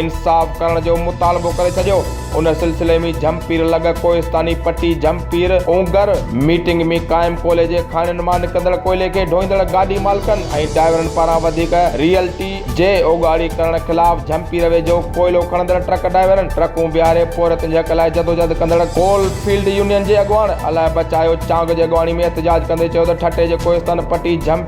انصاف ڪرڻ جو مطالبو ڪري ڇڏيو ان سلسلي ۾ جھمپير لڳ ڪوهستاني پٽي جھمپير اونگر ميٽنگ ۾ قائم ڪولهي جي کاڻين مان نڪندڙ ڪوئلي کي ڍوئيندڙ گاڏي مالڪن ۽ ڊائيورن پاران وڌيڪ ريئلٽي جي اوڳاڙي ڪرڻ خلاف جھمپير ويجهو ڪوئلو کڻندڙ ٽرڪ ڊائيورن ٽرڪون بيهاري پورهيتن جي حق لاء جدوجھد ڪندڙ ڪول فيلڊ يونين جي اڳواڻ الاهي بچايو چانگ جي اڳواڻي ۾ احتجاج ڪندي چيو ته ٺٽي جي ڪوهستان پٽي جھمپير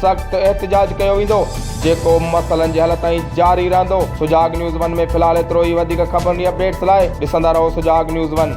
سخت احتجاج ڪيو ويندو جيڪو مسئلن جي حل تائين جاري رهندو سجاڳ نيوز ون ۾ في الحال ايترو ئي وڌيڪ خبرن ۽ اپڊيٽس لاء ڏسندا رهو سجاڳ نيوز ون.